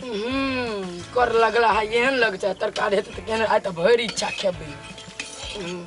हम्म, कर लगला है एहन लग जाए तरकारी हेतै तऽ केहन आइ तऽ भरि इच्छा खेबै हम्म।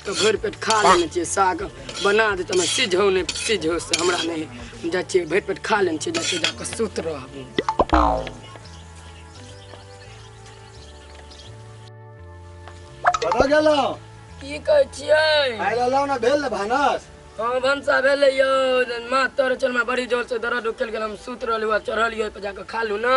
तऽ भरि पेट खा लेने छियै साग बना दे तऽ हमरा सिझौ नहि सिझौ से हमरा नहि हम जाइ छियै भरि पेट खा लेने छियै जाइ छियै जाकऽ सुत रहबू कतऽ गेलहुँ की कहै छियै आइ रहलहुँ ने भेल ने भानस हँ भनसा भेलै यौ माथ तर चलमे बड़ी जोर से दर्द उकलि गेल हम सुत रहलहुँ आ चढ़लियै पर जाकऽ खालू ने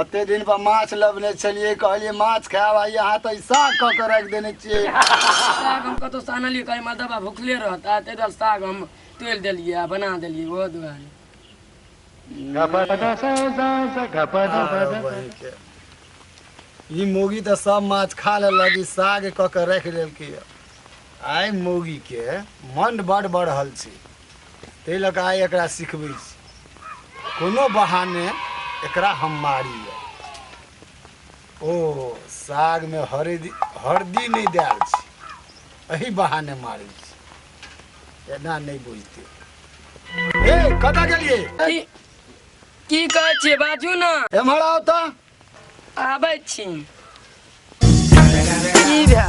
अते दिन पर माछ लबने छलिए कहलिए माछ खाए भाई यहां त साग क के रख देने छिए साग हम कतो सानलिए कहे माल दबा भूखले रहता ते दल साग हम तेल देलिए आ बना देलिए वो दुआरे ई मोगी त सब माछ खा ले लगी साग क के रख लेल के आय मोगी के मन बड़ बड़ हल छी ताहि लऽ कऽ आइ एकरा सिखबै छी कोनो बहाने एकरा हम मारी ओ सागमे हरदी हरदी नहि देल छी एहि बहाने मारै छी एना नहि बुझते ए कतऽ गेलिए की कहै छियै बाजू ने एम्हर आउ तऽ आबै छी की भए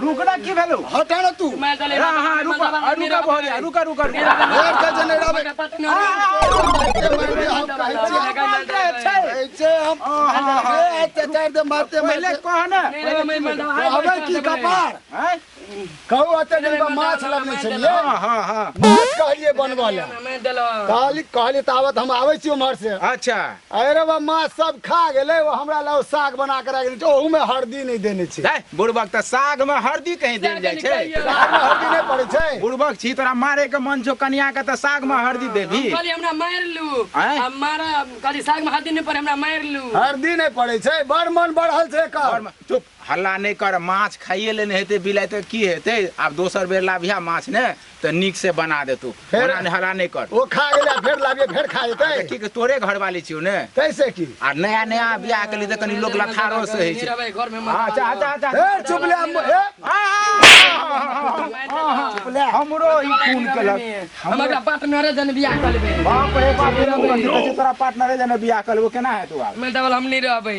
रुक ना की भेलो हटा ना तू मैं चले हां हां रुक रुक भोरे रुक रुक रुक और का जनड़ा बे ऐसे हम अरे अत्याचार दे मारते पहले कह ना अबे की कपार हैं कहू अते दिन बा माछ लगने छे ले हां हां हां माछ कहलिए बनवा ले मैं देलो कहली कहली तावत हम आवे छी उमर से अच्छा अरे रौ बा माछ सब खा गेलै ओ हमरा लए ओ साग बना के राखि देने छै ओहू में हरदी नहि देने छै है बुड़बक त साग में हरदी कहीं देल जाय छै साग में हरदी नहि पड़ै छै बुड़बक छी तोरा मारे के मन छौ कन्या के त साग में हरदी देबी कहली हमरा मारि लू आँय? आ मारा कहली साग में हरदी नहि पड़े हमरा मारि लू हरदी नहि पड़ै छै बड़ मन बढ़ल छै एकर चुप हल्ला नहि कर माछ खाइए लेने हेतै बिलाइ तऽ की हेतै आब दोसर बेर लाबिहा माछ ने तऽ नीक से बना देतौ फेर? ओना नहि हल्ला नहि कर ओ खा गेलै आ फेर लाबियै फेर खा जेतै तऽ की के तोरे घरवाली छियौ ने तैसे की आ नया नया बियाह केली तऽ कनि लोक लथारो से होइ छै अच्छा अच्छा अच्छा ए चुप ले हम- ए, चुप ले हमरो ई खून केलक हम एकरा पार्टनरे जन बियाह कर लेबै बाप रे बाप रे बाप, की कहै छै, तोरा पार्टनरे जने बियाह करबो केना हेतौ आब मेल डबल हम नहि रहबै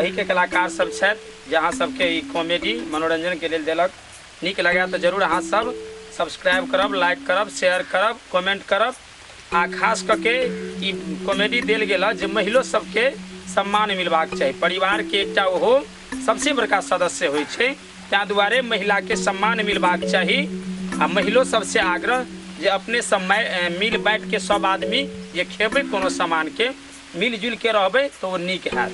एहिके कलाकार सब छथि जे अहाँ सबके ई कॉमेडी मनोरंजन के लेल देलक नीक लगे तऽ जरूर अहाँ सब सब्सक्राइब करब लाइक करब शेयर करब कमेंट करब आ खास कऽ के ई कॉमेडी देल गेल हँ जे महिलो सबके सम्मान मिलबाक चाही परिवार के एकटा ओहो सबसे बड़का सदस्य होइ छै ताहि दुआरे महिला के सम्मान मिलबाक चाही आ महिलो सबसे आग्रह जे अपने सब मै- मिल बाँटि के सब आदमी जे खेबै कोनो सामान के मिलजुल के रहबे तो वो नीक है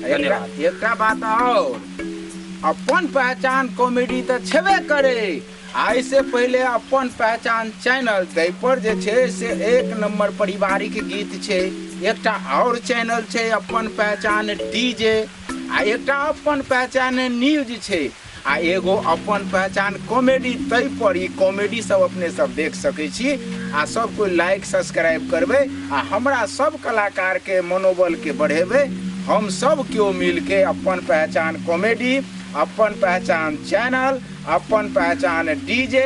धन्यवाद एकटा बात और अपन पहचान कॉमेडी तऽ छेबे करे आइ से पहिले अपन पहचान चैनल ताहि पर जे छै से एक नंबर पारिवारिक गीत छै एकटा और चैनल छै अपन पहचान डीजे आ एकटा अपन पहचान न्यूज छै आ एगो अपन पहचान कॉमेडी तय पर ई कॉमेडी सब अपने सब देख सकै छी आ सब कोई लाइक सब्सक्राइब करबै आ हमरा सब कलाकार के मनोबल के बढ़ेबै हम सब केओ मिल के अपन पहचान कॉमेडी अपन पहचान चैनल अपन पहचान डीजे